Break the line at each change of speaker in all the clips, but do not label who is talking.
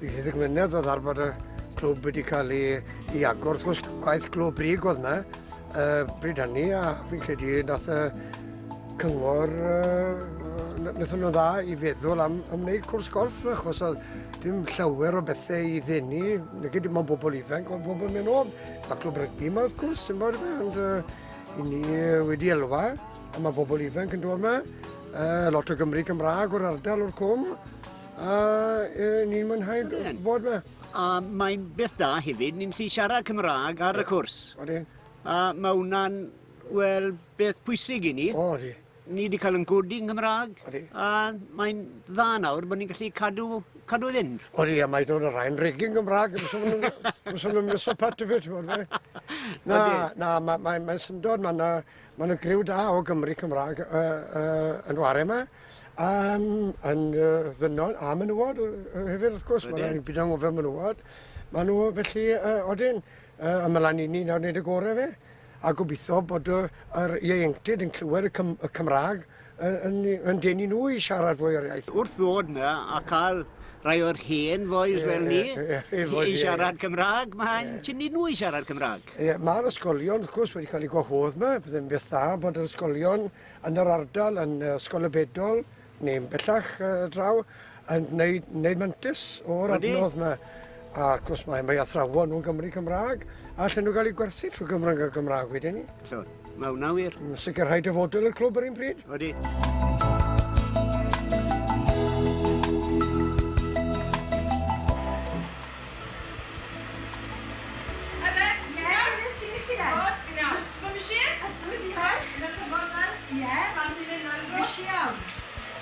Bydd y ddigwyddiad oedd ar bod y clwb wedi cael ei, ei agor. Wrth gwrs, gwaith glwb brig oedd yna uh, bryd hynny, a fi'n credu nath y cyngor, uh, nath nhw'n dda i feddwl am, am wneud cwrs golf, achos oedd dim llawer o bethau i ddenu, neu dim ond bobl ifanc, ond bobl mewn o'n a clwb rygbi yma, wrth gwrs, dim ond ond uh, i ni wedi elwa, a mae bobl ifanc yn dod yma, uh, lot o Gymru Cymraeg o'r ardal o'r cwm, A e, ni'n mwynhau bod yma. A mae'n
beth da hefyd, ni'n lli siarad Cymraeg ar y cwrs. Odi. A mae hwnna'n, wel, beth pwysig i ni. O, odi. Ni wedi cael yn godi yn Gymraeg. Odi. A mae'n dda nawr bod ni'n gallu cadw, cadw i fynd. Odi, a mae dod o rhain
regin Gymraeg, yn sôn yn mysol pat i fi, ti'n bod, Na, na, mae'n ma, ma syndod, mae'n Mae yna griw da o Gymry Cymraeg uh, uh, yn ware yma, um, yn uh, ddynol a menywod uh, hefyd wrth gwrs, mae yna byd anghofio menywod. Mae nhw felly uh, odyn, uh, ymlaen i ni nawr wneud y gorau fe, a gobeithio bod yr ieuenctid yn clywed y, Cym y Cymraeg yn yn denu nhw i siarad fwy o'r iaith. Wrth ddod na a
cael rhai o'r hen foes fel ni i siarad Cymraeg, mae'n tynnu nhw i siarad Cymraeg. Ie, mae'r ysgolion
wrth gwrs wedi cael eu gwahodd yma, byddai'n beth dda bod yr ysgolion yn yr ardal yn Ysgol y Bedol neu'n bellach draw Yn neud, neud mantis o'r adnodd yma. Ac os mae, mae athrawon nhw'n Gymru Cymraeg, allan nhw gael eu gwerthu trwy Gymraeg a Gymraeg wedyn ni. So, mae hwnna wir.
Yn sicrhau dyfodol i'r
clwb yr un pryd. Wedi.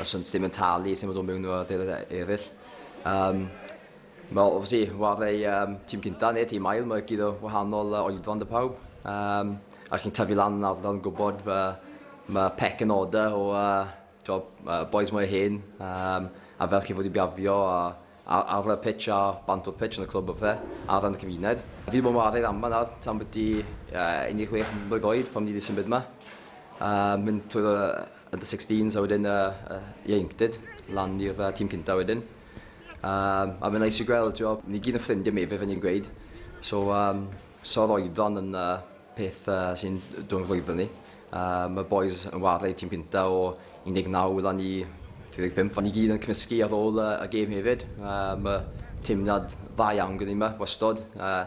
Os ynt ddim yn talu, sy'n fod o mewn o'r adeilad eraill. Um, Mae obviously warau um, tîm cynta neu tîm ail, mae gyda wahanol uh, oedfan dy pawb. Um, a chi'n tyfu lan yn ardal yn gwybod fe, mae pec yn order o uh, job, uh, boys mwy hen um, a fel chi fod i biafio a Ar ar y pitch a bant o'r pitch yn y clwb a pethe, a ran y cymuned. Fi wedi bod yn ware am fan'na tan byti uh, 16 mlwydd oed pan fi wedi symud yma. Uh, mynd trwy'r uh, under 16s a wedyn uh, uh, ieuenctid, lan i'r uh, tîm cyntaf wedyn. Um, a mae'n neis i gweld, ti'n ni gyd yn ffrindiau mi, fe fe ni'n gweud. So, um, so'r oedran yn uh, peth uh, sy'n dwi'n rhwyfo ni. Uh, mae boys yn wario tîm gynta o 19 wyla ni 35. Ni gyd yn cymysgu ar ôl uh, y gêm hefyd. Uh, mae teimlad dda iawn gyda ni yma, wastod. Uh,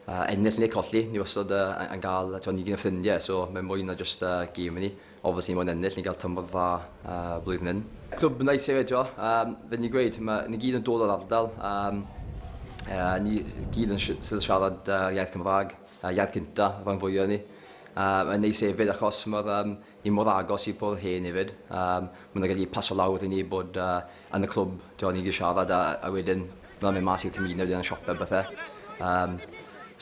uh, ennill neu colli, ni wastod uh, yn cael, twa, ni gyd yn ffrindiau, so mae'n mwy na just uh, gêm i ni. Ofos ni mo'n ennill, ni gael tymor dda uh, blwyddyn hyn. Clwb nice hefyd, twa. Um, fe ni gweud, mae, ni gyd yn dod o'r ardal. Um, uh, ni gyd yn siarad uh, iaith Cymraeg. y iard cynta rhan fwya o ni. Yym yn neis efyd achos ma'r yym ni mor agos i Pôl Hen efyd. Yym ma' nw'n gallu paso lawr i ni bod yy yn y clwb t'wod ni 'di siarad a a wedyn ma' nw'n myn' mas i'r cymuned yn y siope a bethe. Yym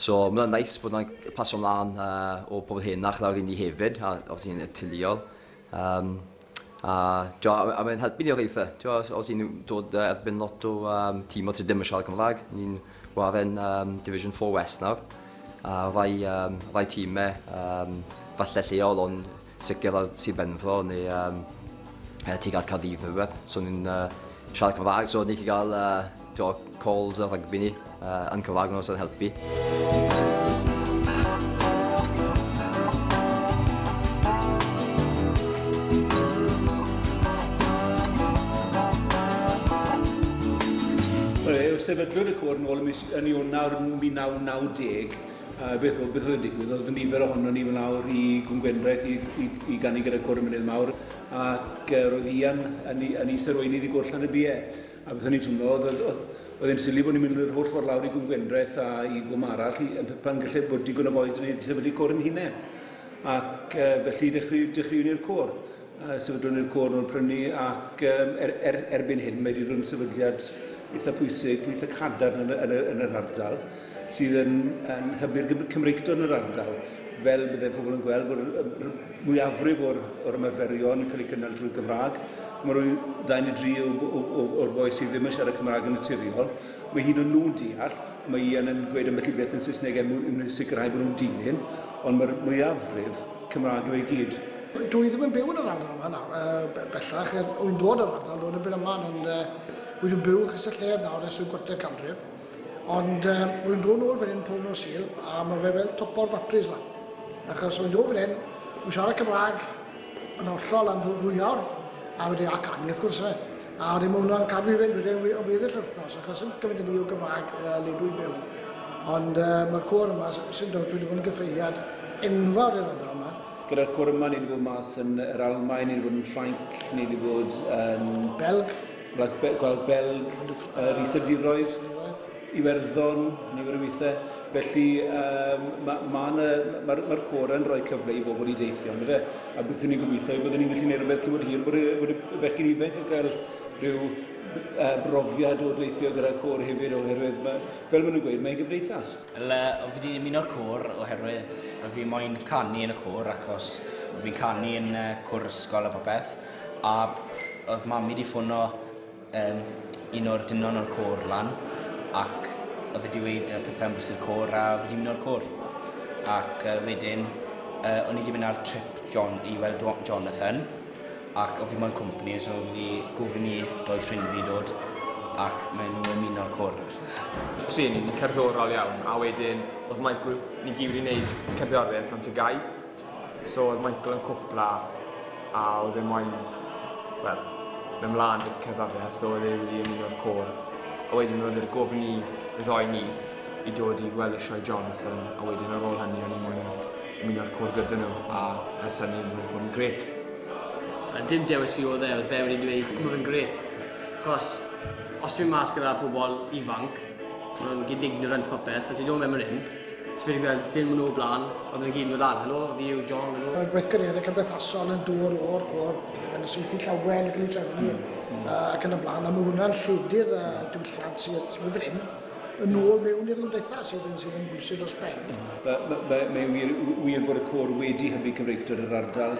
so ma' wnna'n neis bod wnna'n c- paso mlan yy o Pôl Henach lawr i ni hefyd a obviously yn naturiol. Yym. A t'o' a ma' a mae'n helpu ni o reidrwydd. T'o' os os 'yn ni'n dod yy erbyn lot o yym tîmodd sy dim yn siarad Cymra'g, ni'n ware'n yym division four west nawr a rai yym rai time yym falle lleol on' sicir ar Sir Benfro ne' yym yy tuag at Caerdydd ne' rwbeth so ni'n yy siarad Cymra'g so ni 'llu ga'l yy Do calls a rygbi ni uh, yn cyfarfod os yn helpu.
sefydlwyd y cwr yn ôl yn Ionawr 1990, a beth oedd, beth oedd yn digwydd? Oedd nifer ohono ni fel awr i Gwngwendraeth i, i, i gannu gyda cwr y mynydd mawr, ac uh, roedd Ian yn, yn is arweinydd i gwrllan y bie. A beth o'n i'n twmlo, oedd, oedd, oedd, oedd e'n sili bod ni'n mynd yr holl ffordd lawr i Gwm Gwendraeth a i Gwm Arall, i, pan gallai bod digon o foes yn ei sefydlu cwr yn hunain. Ac uh, felly dechreu, dechreu ni'r cwr. Uh, sefydlwn ni'r cwr nhw'n prynu ac um, er, er, sydd yn yn hybu'r Gym- Cymreictod yn yr ardal, fel bydde pobl yn gweld bod y y mwyafrif o'r o'r ymarferion yn cael eu cynnal drwy'r Gymraeg. Mae rhoi ddau neu dri o o o o'r boi sydd ddim yn siarad Cymraeg yn naturiol. Mae hyd yn nhw'n deall, mae Ian yn gweud ambell i beth yn Saesneg er mwyn mwyn sicrhau bod nhw'n dilyn, ond mae'r mwyafrif Cymraeg yw e i gyd. Dw i ddim yn byw
yn yr ardal yma nawr, yy bellach, er wy'n dod o'r ardal, dod yn byn aman, ond yy wi 'di byw yn Castell Nedd nawr ers rhyw gwarter canrif. Ond uh, rwy'n dod nôl fan hyn pob nos Sul a mae fe fel topo'r batris lan. Achos rwy'n dod fan hyn, rwy'n siarad Cymraeg yn hollol am ddwy awr, a wedi ac anni wrth gwrs fe. A wedi mae hwnna'n cadw i fynd wedi o weddill wythnos, achos yn gymaint yn ni o Gymraeg uh, le dwi'n byw. Ond uh, mae'r cwr yma, sy'n dod, wedi bod yn gyffeiriad enfawr i'r ardal yma. Gyda'r cwr yma, ni wedi
bod mas yn yr Almain, ni wedi bod yn Ffrainc, ni wedi bod yn... Belg. Gwlad
Be-, Gwlad
Belg, yr Iseldiroedd, Iwerddon, nifer o weithiau. Felly, um, mae'r ma, ma ma, ma cor yn rhoi cyfle i bobl i deithio, ynddo fe? A beth ni'n gobeithio yw bod ni'n gallu gwneud rhywbeth cymryd hir bod y, bod y bechgyn ifanc yn cael rhyw uh, brofiad o deithio gyda cor hefyd oherwydd mae, fel maen nhw'n gweud, mae'n gymdeithas. Wel, uh, fi wedi
ymuno'r cor oherwydd fi moyn canu yn y cor achos fi'n canu yn uh, cwr ysgol a popeth. A odd mam i 'di ffono yym un o'r dynon o'r côr lan ac odd e 'di weud yy pethe am bwrstu'r côr a fi 'di myn' o'r côr. Ac yy wedyn yy o'n i 'di myn' ar trip Jon- i weld Jo- Jonathan ac o' fi moyn company so fi 'di gofyn i dou ffrind fi dod ac ma' n'w ymuno'r côr nawr. Trin ni, ni
cerddorol iawn a wedyn odd my group ni gyd wedi neud cerddorieth am Ty Gy. So oedd Michael yn cwpla a oedd e moyn, wel, mewn mlaen i'r cerddoriaeth, so oedd e wedi ymuno'r côr. A wedyn oedd e'r gofyn i y ddoi ni i dod i gweld y sioe Jonathan, a wedyn ar ôl hynny o'n i'n moyn ymuno'r côr gyda nhw, a ers hynny mae'n bod yn gret. A dim
dewis fi oedd e, oedd be wedi dweud, mae fe'n gret. Chos, os ti'n mynd mas gyda pobl ifanc, maen nhw'n gyd ignorant popeth, a ti'n dod mewn yn hyn, So fi wedi gweld dyn maen nhw o blaen, oedd nhw'n gyd yn dod lan, helo, fi yw John, helo. Mae'r gweithgareddau cymdeithasol
yn dod o'r cwr, pethau gan y swythu llawen yn cael ei trefnu mm. mm. uh, ac yn y blaen, a mae hwnna'n lledu'r uh, diwylliant sydd sydd fan hyn yn ôl mewn i'r gymdeithas sydd yn sydd yn bwysig dros ben. Mm. Mae ma, ma, ma
wir, wir bod y cwr wedi hybu Cymreictod yr ardal